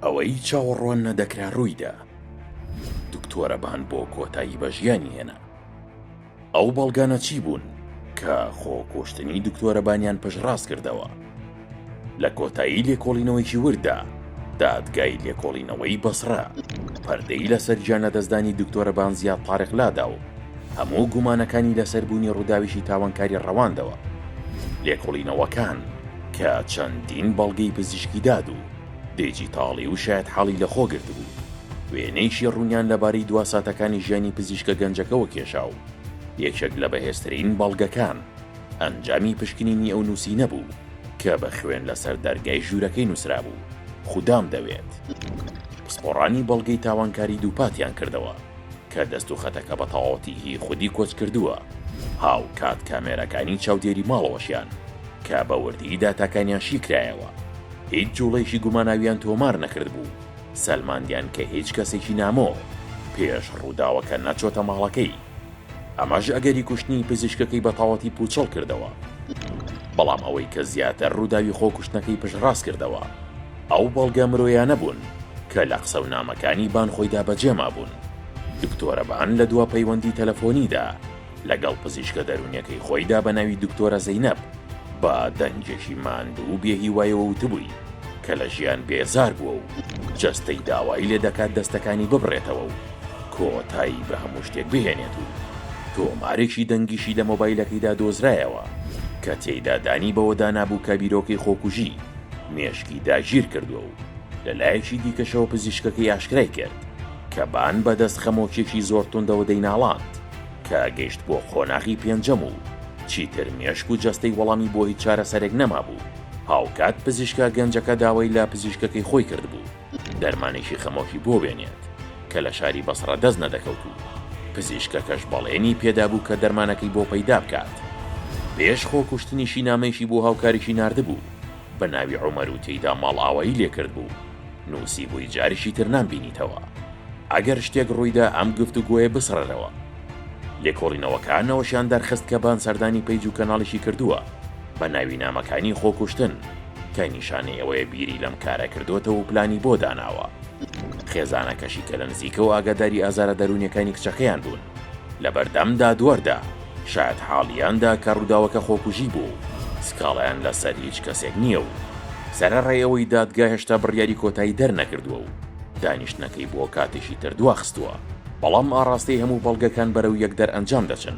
ئەوەی چاوەڕوان نەدەکرا ڕوویدا، دکتۆرە بان بۆ کۆتایی بە ژیانی هێنا. ئەو بەڵگانە چی بوون کە خۆکوشتنی دکتۆرە بانیان پشتڕاست کردەوە؟ لە کۆتایی لێکۆڵینەوەیکی ورددا، دادگای لێکۆڵینەوەی بەسڕە پەردەی لەسەر گیانلەدەستدانی دکتۆرە بان زیاد تاریق لادا و هەموو گومانەکانی لەسەر بوونی ڕووداوێکی تاوانکاری ڕەواندەوە. لێکۆڵینەوەکان. کە چەندین بەڵگەی پزیشکی داد و دیجیتاڵی و شایەتحاڵی لەخۆ گرتبوو، وێنەیەکی ڕوونیان لەبارەی دوا ساتەکانی ژیانی پزیشکە گەنجەکەوە کێشا و یەکێک لە بەهێزترین بەڵگەکان ئەنجامی پشکنینی ئەو نووسینە بوو کە بە خوێن لەسەر دەرگای ژوورەکەی نووسرابوو، خودام دەوێت. پسپۆڕانی بەڵگەی تاوانکاری دووپاتیان کردەوە. کە دەست و خەتەکە بە تەواوەتی هی خودی کۆچکردووە، هاوکات کامێراکانی چاودێری ماڵەوەشیان کە بە وردی داتاکانیان شی کرایەوە، هیچ جوڵەیەکی گوماناویان تۆمار نەکردبوو، سەلماندیان کە هیچ کەسێکی نامۆ پێش ڕووداوەکە نەچۆتە ماڵەکەی. ئەمەش ئەگەری کوشتنی پزیشکەکەی بە تەواوەتی پووچەڵ کردەوە. بەڵام ئەوەی کە زیاتر ڕووداوی خۆکوشتنەکەی پشتڕاست کردەوە، ئەو بەڵگە مرۆیانە بوون کە لە قسە و نامەکانی بان خۆیدا بەجێ مابوون. دکتۆرە بان لە دوا پەیوەندی تەلەفۆنیدا لەگەڵ پزیشکە دەروونیەکەی خۆیدا بە ناوی دکتۆرە زەینەب بە دەنگێکی ماندوو و بێهیوایەوە وتبووی کە لە ژیان بێزار بووە و جەستەی داوای لێ دەکات دەستەکانی ببڕێتەوە و کۆتایی بە هەموو شتێک بهێنێت و تۆمارێکی دەنگیشی لە مۆبایلەکەیدا دۆزرایەوە کە تێیدا دانی بەوەدا نابوو کە بیرۆکەی خۆکوژی مێشکی داگیر کردووە و لە لایەکی دیکەشەوە پزیشکەکەی ئاشکرای کرد کە بان بە دەست خەمۆکیەکی زۆر توندەوە دەیناڵاند کە گەیشت بۆ قۆناغی پێنجەم و چیتر مێشک و جەستەی وەڵامی بۆ هیچ چارەسەرێک نەمابوو هاوکات پزیشکە گەنجەکە داوای لە پزیشکەکەی خۆی کردبوو دەرمانێکی خەمۆکی بۆ بێنێت، کە لە شاری بەسڕە دەست نەدەکەوت و پزیشکەکەش بەڵێنی پێدابوو کە دەرمانەکەی بۆ پەیدا بکات. پێش خۆکوشتنیشی نامەیەکی بۆ هاوکاریی ناردبوو بە ناوی عومەر و تێیدا ماڵئاوایی لێ کردبوو، نووسیبووی جاریشی تر نامبینیتەوە. ئەگەر شتێک ڕوویدا ئەم گفتوگۆیە بسڕەرەوە. لێکۆڵینەوەکان ئەوەشیان دەرخست کە بان سەردانی پەیج و کەناڵیشی کردووە بە ناوی نامەکانی خۆکوشتن. کە نیشانەی ئەوەیە بیری لەم کارە کردۆتەوە و پلانی بۆ داناوە. خێزانەکەشی کە لە نزیکەوە ئاگاداری ئازارە دەروونیەکانی کچەکەیان بوون، لە بەردەم دادوەردا شایەت حاڵیان دا کە ڕووداوەکە خۆکوژی بووە و سکاڵایان لە سەر هیچ کەسێک نییە و سەرەڕای ئەوەی دادگا هێشتا بڕیاری کۆتایی دەرنەکردووە و دانیشتنەکەی بۆ کاتێکی تر دواخستووە، بەڵام ئاڕاستەی هەموو بەڵگەکان بەرەو یەک دەرئەنجام دەچن.